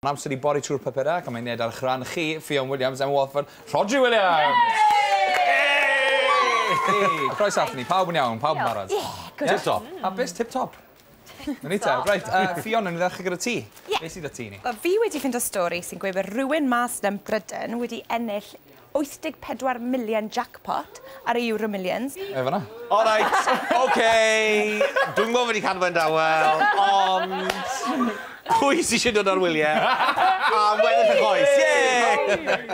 Mae'n amser i bori trwy'r papurau ac am ei wneud ar eich rhan chi, Ffion Williams, Emma Walford, Rhodri Williams! Yay! Croeso ato ni, pawb yn iawn, pawb yn barod? Ie, good. Tip top. Hapus, tip top. Yn ni te. Reit, Ffion, yn ni ddechrau gyda ti. Ie. Be sydd 'da ti i ni? Wel, fi wedi ffindo stori sy'n gweud bod rhywun mas 'na yn Bryden wedi ennill 84 million jackpot ar y Euromillions. Mae fan'na. Alright, ok! Dwi'm yn gwybod be 'di canfod yn dawel, ond... Pwy sy eisiau dod ar wyliau am weddill y coes? Ie!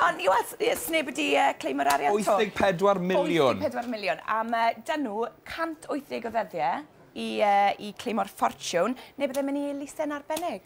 Ond i weld, ie, sneb wedi claimo'r arian 'to. 84 million. 84 million. A mae 'da nhw 180 o ddyddiau i claimo'r ffortiwn, neu byddai'n mynd i elusen arbennig.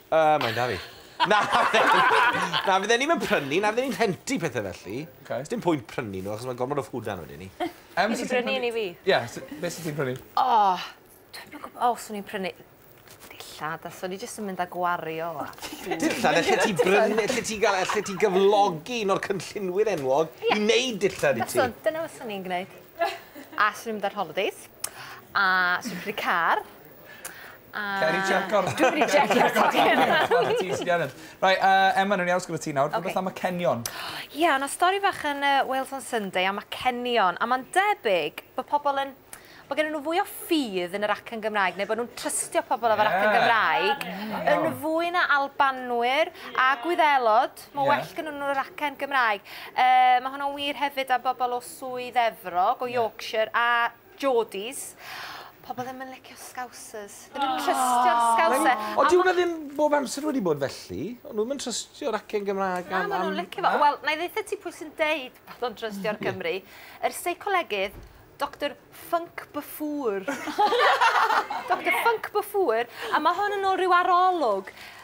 Yy, mae'n 'da fi. Na, na, fydden ni'm yn prynu, na fydden ni'n rhentu pethe felly. Ok. Sdim pwynt prynu nhw, achos mae gormod o food lan wedyn ni. Yym, sut ti'n prynu? Ti 'di prynu un i fi. Ie, s- be' sut ti'n prynu? O! Dwi'm yn gwbo os o'n i'n prynu dillad, a so ni jyst yn mynd a gwario a... Dillad? Elli ti brynu, elli ti ga'l, elli ti gyflogi un o'r cynllunwyr enwog i neud dillad i ti? Fyswn, dyna fyswn i'n gneud. A swn i'n mynd ar holidays, a swn i'n prynu car. Cer i tseco fe. Dwi wedi tsecio tocyn. Reit, Emma, newn ni aros gyda ti nawr. Rhywbeth am acenion. Ie, o' 'na stori fach yn yy Wales on Sunday am acenion, a ma'n debyg bo' pobol yn bo' gennyn nw fwy o ffydd yn yr acen Gymraeg neu bo' nw'n trystio pobol efo'r acen Gymraeg yn fwy na Albanwyr a Gwyddelod, ma' well gynnyn nw yr acen Gymraeg. Yy ma' hwnna'n wir hefyd am bobol o Swydd Efrog, o Yorkshire a Geordies. Pobl ddim yn licio Scousers. Ddim yn trystio'r Scouser. Ond dyw hwnna ddim bob amser wedi bod felly. O'n nhw ddim yn trystio'r acen Gymraeg am... Na, maen nhw'n licio fo. Wel, na i ddeutha ti pwy sy'n deud bod nhw'n trystio'r Cymry. Yr seicolegydd, Doctor Func Buffour. Doctor Func Buffour. A mae hwn yn ôl rhyw arolwg.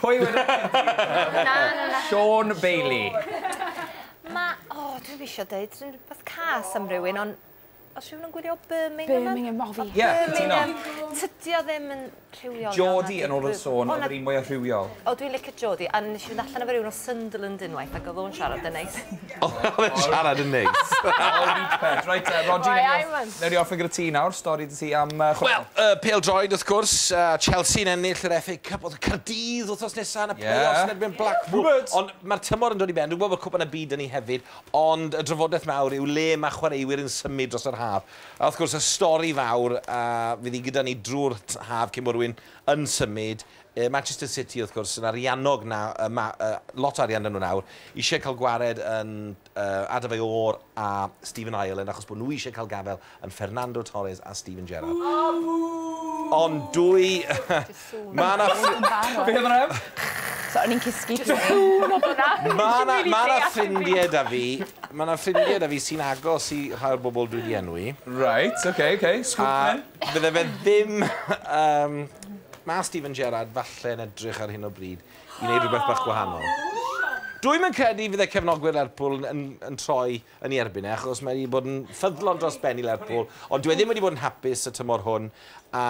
Pwy wedd y cynta? Na na na. Siôn Bailey. Ma' o dwi ddim isio deud rhyw rhywbeth cas am rywun on' o's rhywun yn gwylio Birmingham yn... Birmingham o fi. Ie cytuno. Tydi o ddim yn rhywiol iawn... Geordie yn ôl y sôn o'dd yr un mwya rhywiol. O dwi'n licio Geordie a nesh i fynd allan efo rywun o Sunderland unwaith ag o'dd o'n siarad yn neis. Oedd e'n siarad yn neis. Reit te, Rhodri... Why I want. ...newn ni orffen gyda ti nawr, stori 'da ti am yy chwarae. Wel, yy pêl-droed wrth gwrs, a Chelsea'n ennill yr FA Cup, o'dd y Cardydd wthnos nesa yn y play-offs yn erbyn Blackpool. Rhywbeth! Ond ma'r tymor yn dod i ben, dwi'n gwbod bo' Cwpan y Byd 'da ni hefyd, ond y drafodeth mawr yw le ma' chwaraewyr yn symud dros yr haf. A wrth gwrs, y stori fawr a fydd 'i gyda ni drw'r t- haf cyn bo' rywun yn symud Yy Manchester City wrth gwrs yn ariannog na- yy ma- yy lot o arian 'da nhw nawr, isie cael gwared yn yy Adebayor a Stephen Ireland achos bod nhw isie cael gafael yn Fernando Torres a Steven Gerrard. Ond dwy ma' 'na ffri- Beth am rem? So o'n i'n cysgu pryd Ma' 'na ma' 'na ffrindie 'da fi ma' 'na ffrindie 'da fi sy'n agos i rhai o'r bobl dwi 'di enwi. Reit ok ok sgwt myn. Fydde fe ddim... Um, mae Steven Gerrard falle yn edrych ar hyn o bryd i wneud rhywbeth bach gwahanol. Dwi'n yn credu fydde cefnogwyr Lerpwl yn, yn, yn troi yn ei erbyn e, achos mae wedi bod yn ffyddlon dros ben i Lerpwl, ond dwi e ddim wedi bod yn hapus y tymor hwn, a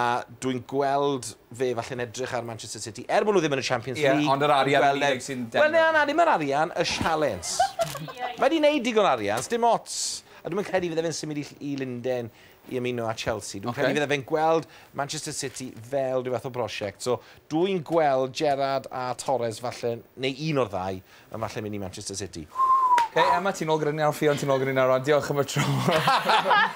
dwi'n gweld fe falle yn edrych ar Manchester City, er bod nhw ddim yn y Champions yeah, League. ond yr arian yn unig sy'n... Wel, na, na, ddim yr arian, y sialens. mae wedi gwneud digon arian, dim ots. A dwi'n credu fydde fe'n symud i, i Linden i ymuno â Chelsea. Dwi'n okay. credu fydde fe'n gweld Manchester City fel rhyw fath o brosiect. So, dwi'n gweld Gerard a Torres falle, neu un o'r ddau, yn falle mynd i Manchester City. Hei, Emma, ti'n ôl gyda ni ar ffion, ti'n ôl gyda ni ar ran. Diolch am y tro.